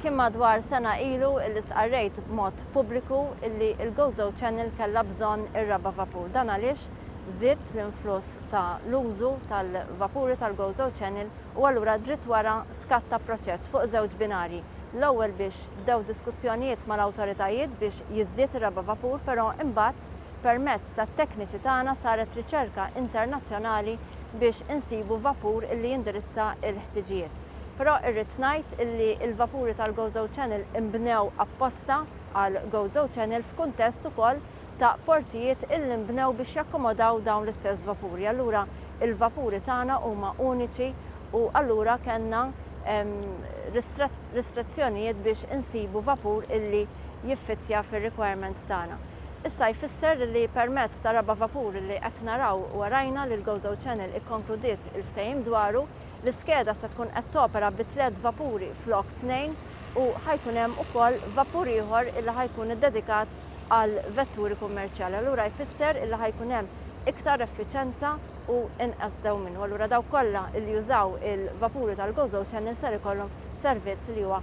Kien madwar sena ilu illi stqarrejt b'mod pubbliku illi l-Gozo Channel kellha bżonn ir-raba' vapur. Dan għaliex żied l-influss ta' l-użu tal-vapuri tal-Gozo Channel u allura dritt wara skatta proċess fuq żewġ binarji. L-ewwel biex bdew diskussjonijiet mal-awtoritajiet biex jiżdied ir-raba' vapur però imbagħad permezz tat-tekniċi tagħna saret riċerka internazzjonali biex insibu vapur illi jindirizza l-ħtiġijiet. Però irrid ngħid li l-vapuri tal-Gozo Channel inbnew apposta għal Gozo Channel f'kuntest ukoll ta' portijiet illi nbnew biex jakkomodaw dawn l-istess vapuri. Allura l-vapuri tagħna huma uniċi u allura kellna ristrezzjonijiet biex insibu vapur illi jiffittja fir-requirements tagħna. Issa jfisser li permezz tar-raba' vapur illi qed naraw warajna li l-Gozo Channel ikkonkludiet il-ftehim dwaru, L-iskeda se tkun qed topera bi tliet vapuri flok tnejn u ħa jkun hemm ukoll vapur ieħor illi ħa jkun iddedikat għal vetturi kummerċjali. Allura jfisser illi ħa jkun hemm iktar effiċenza u inqas dewmien. U allura dawk kollha illi jużaw il-vapuri tal-GoZo Channel ser ikollhom servizz li huwa